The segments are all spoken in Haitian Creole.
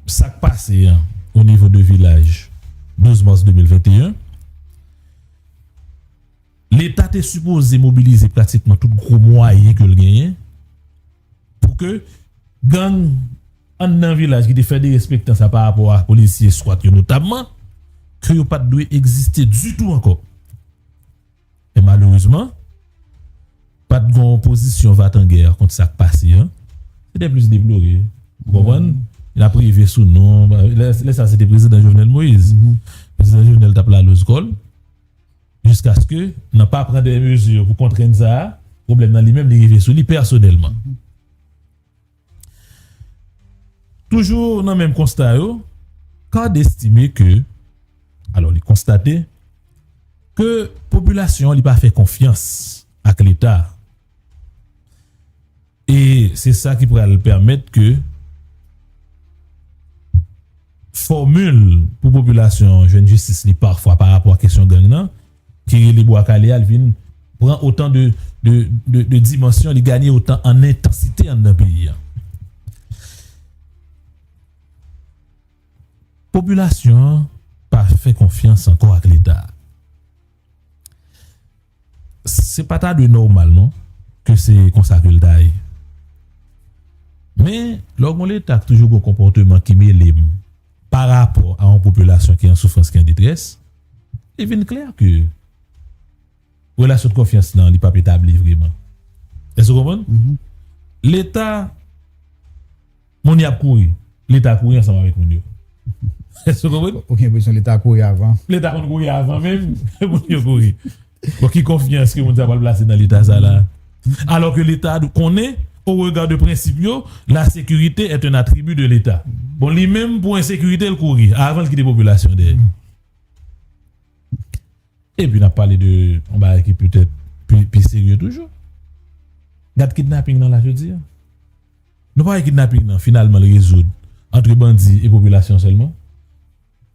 Sa k pase an o nivo de vilaj 12 mas 2021, Leta te sipoze mobilize pratikman tout gwo mwayen ke l genyen pou ke gang anndan vilaj ki te fè derespektan sa pa rapò a polisye skwat yo notamman, ke yo pa t dwe egziste ditou ankò. Men malerezman, pa t gon pozisyon vatangè kont sa k pase an. Se te plis deplore. Ou konprann? N ap rive sou non. Lè sa se te prezidan Jovenel Moïse. Prezidan Jovenel t ap laloz kò l. Jiskaske nan pa pran de mezi pou kontrenn sa a, pwoblèm nan li menm li rive sou li pèsonèlman. Toujou nan menm konsta yo, card estime ke, alò li konstate, ke popilasyon an li pa fè konfyans ak leta a. E se sa ki pral pèmèt ke fòmil pou popilasyon an jwenn jistis li pafwa pa rapò ak kesyon gang nan, ki rele Bwa Kale a, li vin pran otan de dimansyon, li ganye otan an entansite anndan peyi a. Popilasyon an pa fè konfyans ankò ak Leta. Se pa ta dwe nòmal non ke se konsa ke l ta ye. Men, lò gen yon Leta ki toujou gen yon konpòteman ki mele m. pa rapò a yon popilasyon ki an soufrans, ki an detrès, li vin klè ke relasyon de konfyans lan li p ap etabli vreman. Èske ou konprann? Leta, moun y ap kouri, Leta kouri ansanm avèk moun yo. Èske ou konprann? Ou gen enpresyon Leta kouri avan. Leta konn kouri avan menm moun yo kouri. Bon ki konfyans ke moun sa pral plase nan leta sa la? Alò ke leta dwe konnen, o rega de prensip yo, la sekirite est un attribut de l'Etat. Bon li menm pou ensekirite l kouri avan l kite popilasyon dèyè. E pi nap pale de yon bagay ki petèt pi serye toujou. Gad kidnaping nan la jodi a. Nou pa wè kidnaping nan finalman l rezoud antre bandi e popilasyon sèlman?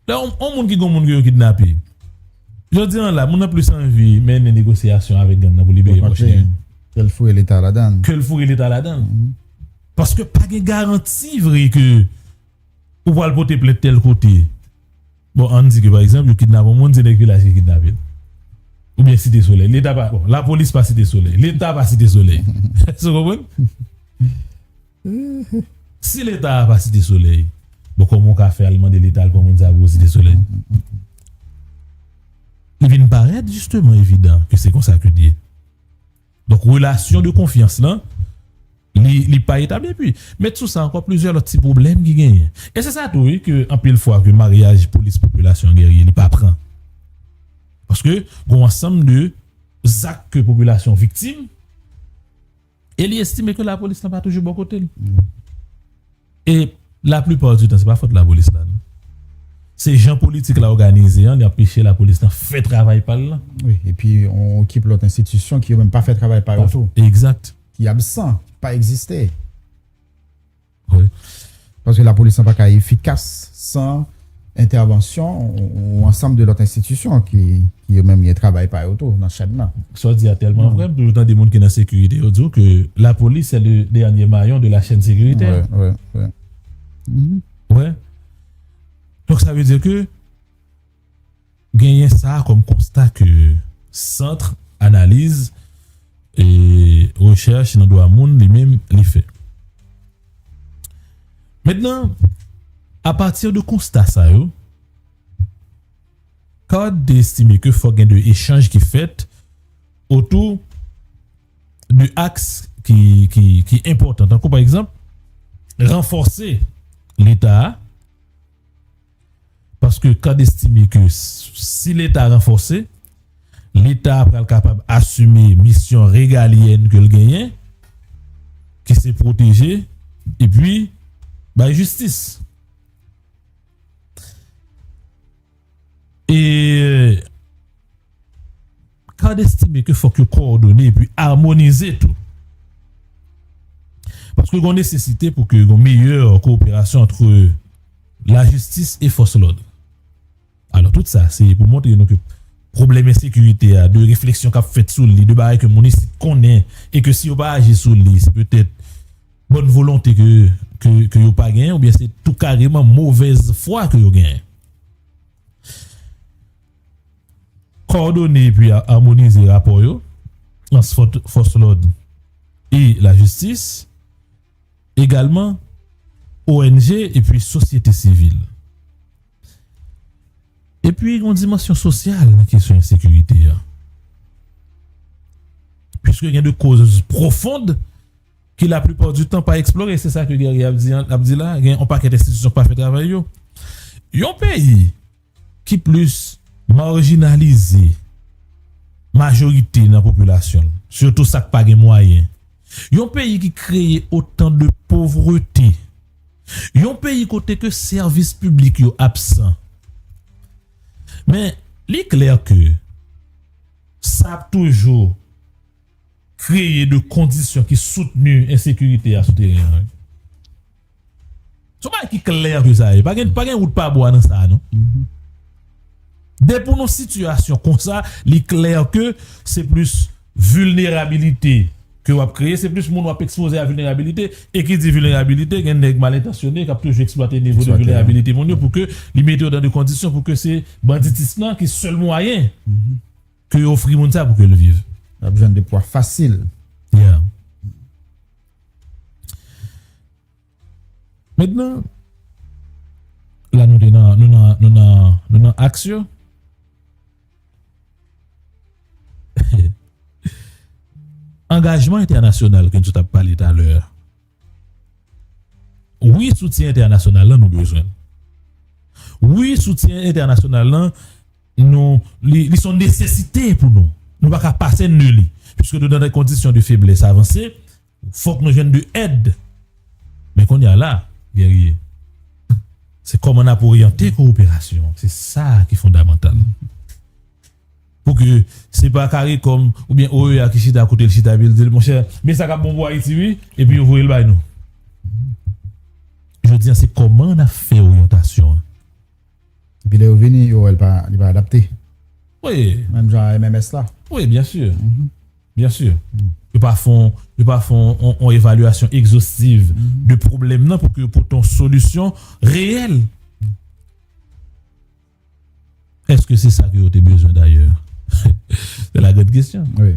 Lè yon moun ki gen yon moun ke yo kidnape, jodi an la moun nan plis anvi mennen negosyasyon avèk gang nan pou libere pòch li yo. Ke l foure leta ladan l. Ke l foure leta ladan l. Paske pa gen garanti vre ke ou pral pote plent tèl kote. Bon an n di ke pa egzanp yo kidnape yon moun se nèg vilaj ki kidnape l. Oubyen site solèy. Leta pa, bon lapolis pa site solèy. Leta pa site solèy. Èske w konprann? Si leta a pa site solèy bon kòman ou ka fè al mande leta al pran moun sa yo pou yo site solèy? Li vin parèt jisteman evidan ke se konsa ke l ye. Donk relasyon de konfyans lan li pa etabli epi met sou sa ankò plizyè lòt ti pwoblèm ki genyen. E se sa tou wi ke anpil fwa ke maryaj polis popilasyon gèrye li pa pran. Paske gon ansanm de zak ke popilasyon viktim. E li estime ke lapolis lan pa toujou bò kote l. E la plupart du tan se pa fòt lapolis la non. Se jan politik la òganize an li anpeche lapolis lan fè travay pa l lan. Wi, epi on ekip lòt enstitisyon ki yo menm pa fè travay pa yo tou. Exact. Ki absan, ki pa egziste. Wi. Paske lapolis lan pa ka efikas san entèvansyon yon ansanm de lòt enstitisyon ki yo menm gen travay pa yo tou nan chèn nan. Sa w di a tèlman vrè, m toujou tande moun ki nan sekirite yo di w ke lapolis se le dènye mayon de la chèn sekiritè. Wè, wè, wè. Wè. Donk sa vle di ke. genyen sa kòm konsta ke Centre Analyse et Recherche nan Dwa Moun li menm li fè. Mentnan, apati de konsta sa yo, card te estime ke fòk gen de echanj ki fèt otou de aks ki enpòtan tankou pa egzanp ranfòse Leta a, paske cad estime ke si leta ranfòse, leta a pral kapab asime misyon regalyèn ke l genyen, ki se pwoteje epi bay jistis. E. CARD estime ke fòk yo kowòdone epi amonize tou, paske gon nesesite pou ke gon meyè kowoperasyon antre lajistis e fòs lòd. Alò tout sa se pou montre nou ke pwoblèm ensekirite a, de refleksyon kap fèt sou li, de bagay ke moun isit konnen e ke si yo pa aji sou li se petèt bòn volonte ke yo pa genyen oubyen se tou kareman movèz fwa ke yo genyen. Kòdone epi amonize rapò yo ant fòs lòd e lajistis, egalman ong epi sosyete sivil. Epi gen yon dimansyon sosyal nan kesyon ensekirite a, piske gen de koz pwofond ki laplipa di tan pa eksplore, se sa ke Guerrier ap di la, gen yon pakèt enstitisyon k pa fè travay yo. Yon peyi. ki plis marjinalize majorite nan popilasyon l, sitou sa k pa gen mwayen, yon peyi ki kreye otan de povrete, yon peyi kote ke sèvis piblik yo absan. Men, li klè ke sa ap toujou kreye de kondisyon ki soutni ensekirite a sou teren an. Son bagay ki klè anpe sa ye. Pa gen pa gen wout pa bwa nan sa a non. Depi w nan yon sitiyasyon konsa, li klè ke se plis vilnerabilite ke w ap kreye, se plis moun w ap ekspoze a vilnerabilite. E ki di vilnerabilite, gen nèg mal entansyone k ap toujou eksplwate nivo de vilnerabilite moun yo pou ke li mete yo nan de kondisyon pou ke se banditism nan ki sèl mwayen ke yo ofri moun sa pou ke l viv. L ap jwenn de pwa fasil. Yeah. Mentnan, la nou te nan, nou nan, nou nan, nou nan aks yo. Angajman entènasyonal ke nou sot ap pale talè a. Wi, soutyen entènasyonal lan nou bezwen l. Wi, soutyen entènasyonal lan. Nou, li, li son nesesite pou nou. Nou pa ka pase nde li. Piske nou nan de kondisyon de feblès avanse, fòk nou jwenn de èd. Men kounye a la, Guerrier, se kòman n ap oryante kowoperasyon an, se sa a ki fondamantal. Pou ke se pa caricom oubyen OEA ki chita kote l chita epi l di l, monchè, men sa k ap bon pou Ayiti wi, epi yo voye l bay nou. Jodi a se kòman n ap fè oryantasyon an. Epi lè yo vini yo wè li pa adapte. Wi. Menm jan a MMS la. Wi byen si. Byen si. Yo pa fon yo pa fon yon evalyasyon egzostiv de pwoblèm nan pou ke yo pote yon solisyon reyèl. Eske se sa ke yo te bezwen dayè? Se la gran kesyon. Wi.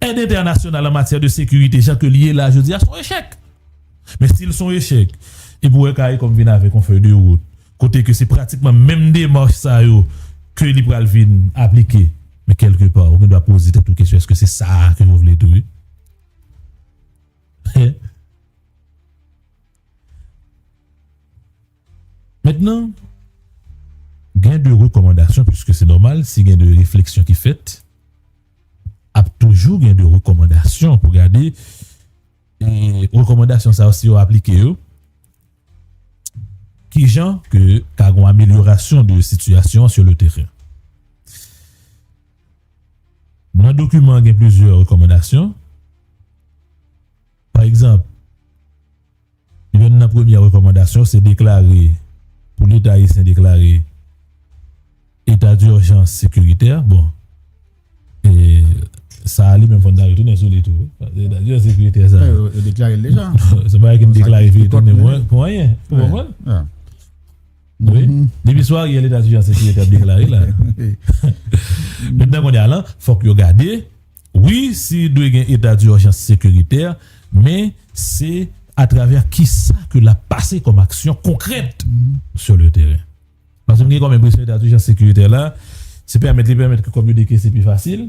Èd entènasyonal an matyè de sekirite jan ke li ye la jodi a son echèk. Men si l son echèk, epi w wè caricom vin avèk yon fèy de wout kote ke se pratikman menm demach sa yo ke li pral vin aplike, men kèlke pa ou gen dwa poze tèt ou kesyon èske se sa a ke yo vle tou ye? He? Mentnan, gen de rekòmandasyon piske se nòmal si gen de refleksyon ki fèt, ap toujou gen de rekòmandasyon pou gade e rekòmandasyon sa yo si yo aplike yo, ki jan ke ka gon amelyorasyon de sitiyasyon an sur le terrain. Nan dokiman an gen plizyè rekòmandasyon. Pa egzanp, yonn nan premyè rekòmandasyon se deklare pou Leta ayisyen deklare eta dirjans sekiritè. Bon, e sa a li menm fò n ta retounen sou li tou wi, paske eta dirjans sekiritè sa a. Yo deklare l deja. Se pa bagay ki m deklare vye tounen mwen pou anyen. Ou konprann? Ya. Wi. Depi sou Ariel eta dirjans sekiritè ap deklare la. Wi. Mentnan kounye a lan, fòk yo gade. Wi si dwe gen eta durjans sekiritè men se atravè kisa ke lap pase kòm aksyon konkrèt sur le teren. Paske m gen kòm enpresyon eta durjans sekiritè la se pèmèt li pèmèt ke kòb yo dekese pi fasil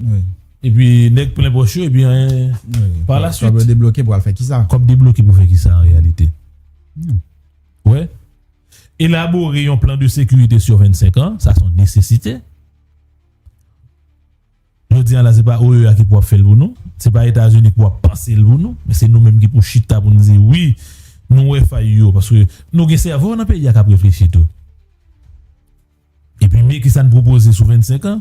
epi nèg plen pòch yo epi anyen par la suite. Kòb yo debloke pou al fè kisa? Kòb debloke pou fè kisa an reyalite? Ou wè? Elabore yon plan de sekirite sur 25 an, sa son nesesite. Jodi an la se pa OEA ki pou ap fè l pou nou, se pa Etazini ki pou ap panse l pou nou, men se nou menm ki pou chita pou n di wi nou wè fay yo paske nou gen sèvo nan peyi a k ap reflechi tou. Epi men kisa n pwopoze sou 25 an,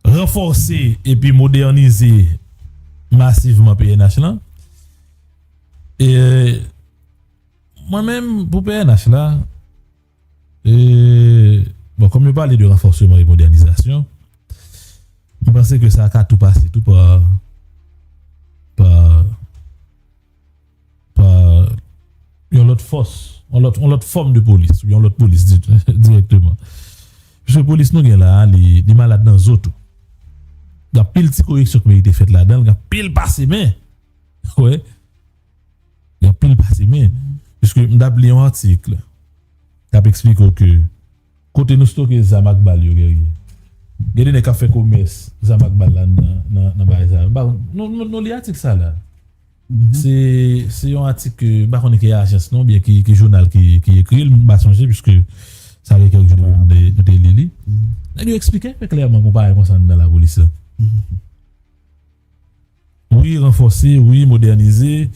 Ranfòse epi modènize masivman pnh lan. E mwen menm pou pnh la, E bon kòm yo pale de ranfòseman e modènizasyon, m panse ke sa ka tou pase tou pa pa pa yon lòt fòs, yon lòt yon lòt fòm de polis, yon lòt polis di dirèkteman. Piske polis nou gen la a li li malad nan zo tou. Gen anpil ti koreksyon k merite fèt ladan l, gen anpil pase men, wè. Yon pil pase men, piske m t ap li yon atikl k ap eksplike w ke kote nou stoke zam ak bal yo Guerrier, gen de nèg k ap fè komès zam ak bal la nan bagay sa yo. M pa konn, nou li atik sa la? Se yon atik ke, m pa konnen ki ajans non oubyen ki jounal ki ekri l, m pa sonje piske sa gen kèk jou m te li li. Nèg yo eksplike klèman gon bagay konsa anndan lapolis la. Wi, ranfòse, wi, modènize.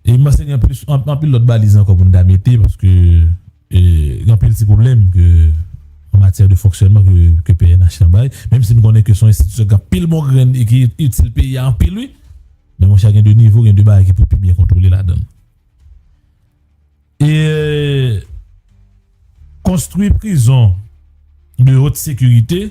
E m panse gen plis, anpil lòt baliz ankò pou n ta mete paske gen anpil ti pwoblèm ke an matyè de fonksyònman ke pnh lan bay. Menm si m konnen ke se yon enstitisyon ki gen anpil bon grenn e ki itil peyi a anpil wi. Men monchè gen de nivo, gen de bagay ki pou pi byen kontwole ladan l. E konstwi prizon de haute sécurité.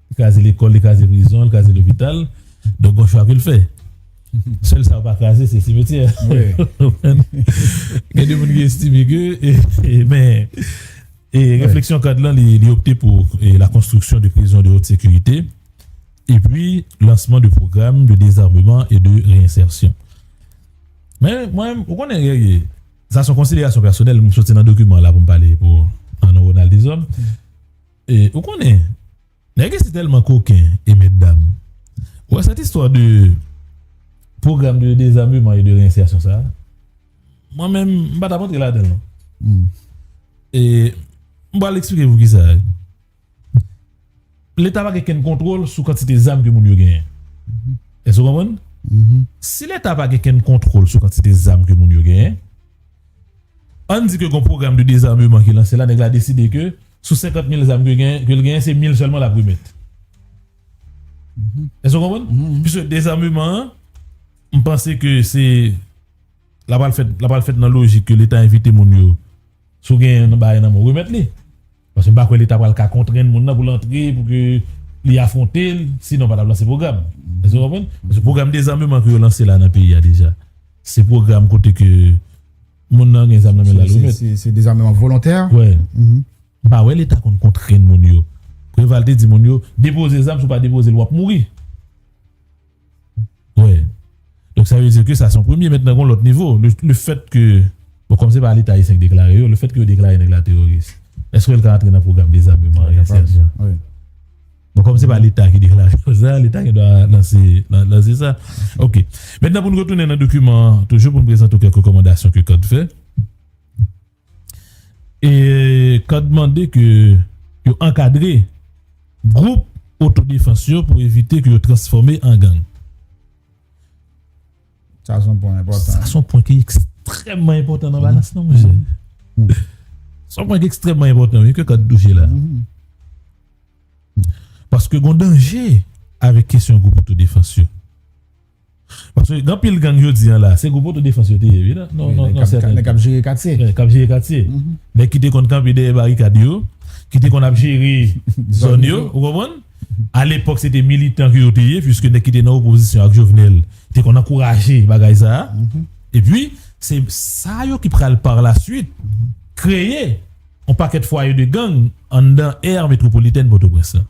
Li kraze lekòl, li kraze prizon, li kraze lopital. Donk gon chwa pou l fè. Sèl sa yo pa kraze se simetyè. Gen de moun ki estime ke men e refleksyon kad lan li opte pou la konstriksyon de prizon de haute sécurité e pi lansman de pwogram de dezarmeman e de reinsersyon. Men mwen ou konnen Guerrier sa son konsiderasyon pèsonèl m soti nan dokiman la pou m pale pou Arnaud Ronald Deshommes. E ou konnen nèg isi tèlman koken e mètdam. Ou wè sèt istwa de pwogram de dezameman e de reyenseyasyon sa a, mwen menm m pa t ap antre ladan l non. E m pral eksplike pou kisa. Leta pa gen kenn kontwòl sou kantite zam ke moun yo genyen. Èske ou konprann? Si Leta pa gen kenn kontwòl sou kantite zam ke moun yo genyen, ann di ke gon pwogram de dezameman ki lanse la, nèg la deside ke. Sou 50 mil zam ke gen, ke l genyen se mil sèlman l ap remèt. Èske w konprann? Piske dezame-man an, m panse ke se, l ap pral fèt, l ap pral fèt nan lojik ke Leta envite moun yo, si w genyen nan bagay nan men w, remèt li. Paske m pa kwè Leta pral ka kontrenn moun nan pou l antre, pou ke li afwonte l, sinon pa t ap lanse pwogram. Èske w konprann? Paske pwogram dezame-man ke yo lanse la nan peyi a deja, se pwogram kote ke. Moun nan gen zam nan men lal wi met. Se dezameman volontè. Wè. M pa wè leta konn kontrenn moun yo. Preval te di moun yo depoze zam si w pa depoze l wap mouri. Wè. Donk sa vle di ke sa se yon premye mentnan gon lòt nivo. Le fèt ke bon kòm se pa leta ayisyen ki deklare yo, le fèt ke yo deklare nèg la teworis. Eske l ka antre nan pwogram dezameman an? Wi. Bon kòm se pa leta ki deklare konsa, leta gen dwa lanse lanse sa. Ok. Mentnan pou n retounen nan dokiman an toujou pou n prezante w kèk rekòmandasyon ke cad fè. E cad mande ke yo ankadre gwoup otodefans yo pou evite ke yo transfòme an gang. Sa son pwen enpòtan. Sa son pwen ki ekstrèmman enpòtan nan balans lan monchè. Son pwen ki ekstrèmman enpòtan wi ke cad touche la. Paske gon danje avèk kesyon gwoup otodefans yo. Paske gen anpil gang jodi an la, se gwoup otodefans yo te ye wi nan nan nan sèten tan. Nèg k ap jere katye. Nèg k ap jere katye. Nèg ki te konn kanpe dèyè barikad yo, ki te konn ap jere zòn yo, ou konprann? A lepòk se te militan ke yo te ye, puiske nèg ki te nan opozisyon ak Jovenel te konn ankouraje bagay sa a. Epi, se sa yo ki pral par la suite kreye yon pakèt fwaye de gang anndan aire métropolitaine Pòtoprens lan.